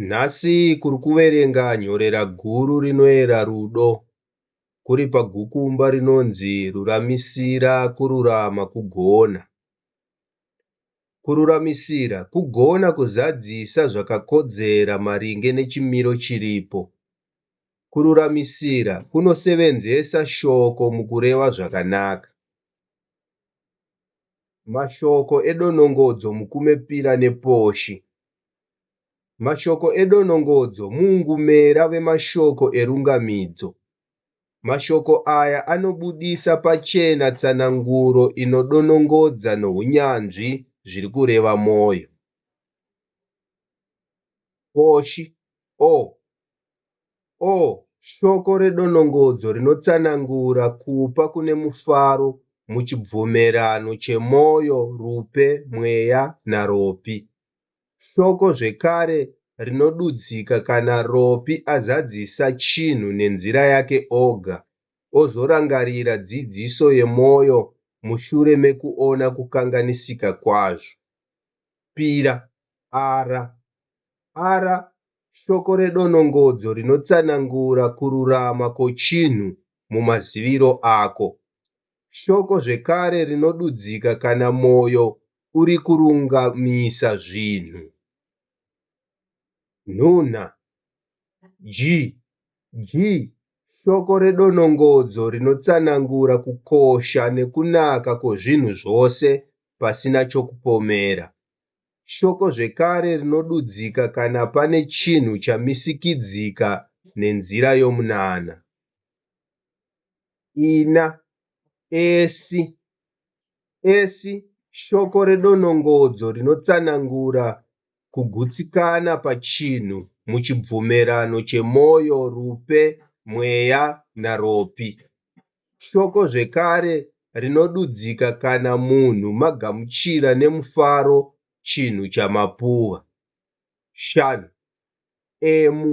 Nhasi kuri kuverenga nyorera guru rinoera rudo kuri pagukumba rinonzi Ruramisira Kururama Kugona. Kururamisira kugona kuzadzisa zvakakodzera maringe nechimiro chiripo. Kururamisira kunosevenzesa shoko mukureva zvakanaka. Mashoko edonongodzo mukumepira neposhi Mashoko edonongodzo muungumera vemashoko erungamidzo. Mashoko aya anobudisa pachena tsananguro inodonongodza nohunyanzvi zviri kureva mwoyo. Koshi, o. O shoko redonongodzo rinotsanangura kupa kune mufaro muchibvumerano chemwoyo, rupe, mweya, naropi. Shoko zvekare rinodudzika kana ropi azadzisa chinhu nenzira yake oga, ozorangarira dzidziso yemwoyo mushure mekuona kukanganisika kwazvo. Pira, ara. Ara shoko redonongodzo rinotsanangura kururama kochinhu mumaziviro ako. Shoko zvekare rinodudzika kana mwoyo uri kurungamisa zvinhu. Nhunha, Ji, ji, shoko redonongodzo rinotsanangura kukosha nekunaka kwozvinhu zvose pasina chokupomera. Shoko zvekare rinodudzika kana pane chinhu chamisikidzika nenzira yomunana. Ina, Esi, Esi, Shoko redonongodzo rinotsanangura kugutsikana pachinhu muchibvumirano chemwoyo, rupe, mweya, naropi. Shoko zvekare rinodudzika kana munhu magamuchira nemufaro chinhu chamapuwa. Shan. Emu.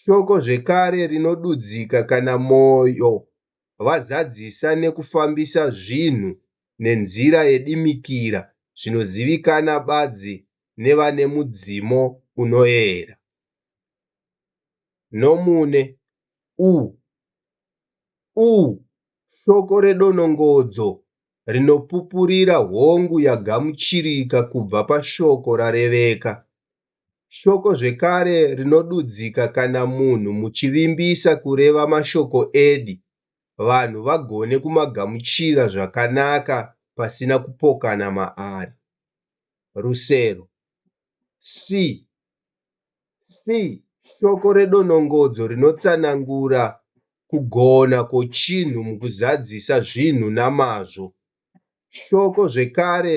Shoko zvekare rinodudzika kana mwoyo vazadzisa nekufambisa zvinhu nenzira yedimikira zvinozivikana badzi nevane mudzimo unoera. Nomune u u shoko redonongodzo rinopupurira hongu yagamuchirika kubva pashoko rareveka Shoko zvekare rinodudzika kana munhu muchivimbisa kureva mashoko edi vanhu vagone kumagamuchira zvakanaka pasina kupokana maari. Rusero. Si. Si shoko redonongodzo rinotsanangura kugona kwochinhu mukuzadzisa zvinhu namazvo. Shoko zvekare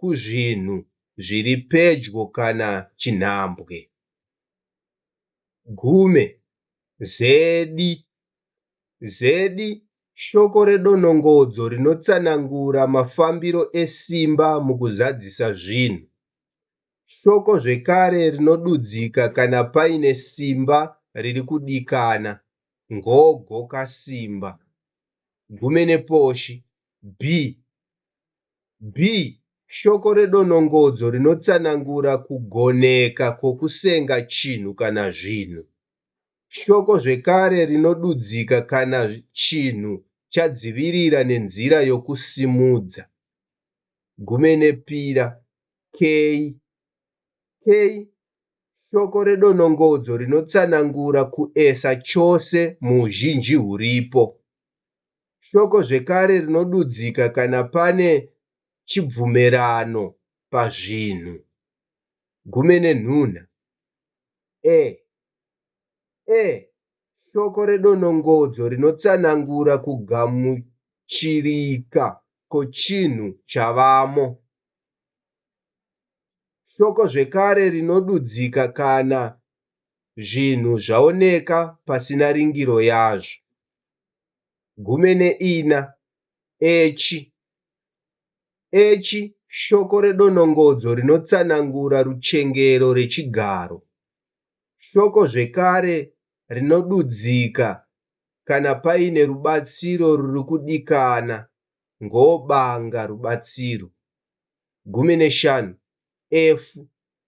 kuzvinhu zviri pedyo kana chinhambwe. Gume, zedi, zedi shoko redonongodzo rinotsanangura mafambiro esimba mukuzadzisa zvinhu. Shoko zvekare rinodudzika kana paine simba riri kudikana, ngogo kasimba. Gume neposhi, bi, B. Shoko redonongodzo rinotsanangura kugoneka kwokusenga chinhu kana zvinhu. Shoko zvekare rinodudzika kana chinhu chadzivirira nenzira yokusimudza. Gumenepira, key. K. Shoko redonongodzo rinotsanangura kuesa chose muuzhinji huripo. Shoko zvekare rinodudzika kana pane chibvumirano pazvinhu. Gume nenhuna. E. E. Shoko redonongodzo rinotsanangura kugamuchirika kochinhu chavamo. Shoko zvekare rinodudzika kana zvinhu zvaoneka pasina ringiro yazvo. gumi neina, echi. Echi shoko redonongodzo rinotsanangura ruchengero rechigaro. Shoko zvekare rinodudzika kana paine rubatsiro ruri kudikana ngobanga rubatsiro. Gumi neshanu, efu.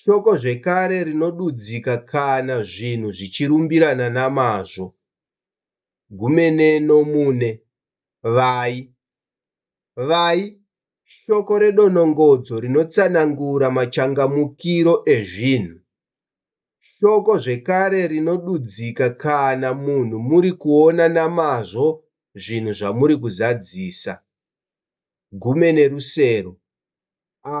Shoko zvekare rinodudzika kana zvinhu zvichirumbirana namazvo, gumene nomune, vai. Vai ishoko redonongodzo rinotsanangura machangamukiro ezvinhu. Shoko zvekare rinodudzika kana munhu muri kuona namazvo zvinhu zvamuri kuzadzisa, gumene rusero, a.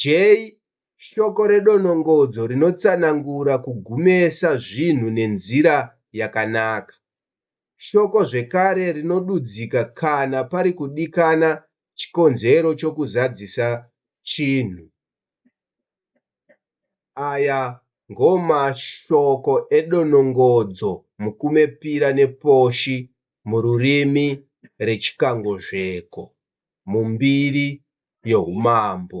J Shoko redonongodzo rinotsanangura kugumesa zvinhu nenzira yakanaka. Shoko zvekare rinodudzika kana pari kudikana chikonzero chokuzadzisa chinhu. Aya ngomashoko edonongodzo mukumepira neposhi mururimi rechikangozveko mumbiri yohumambo.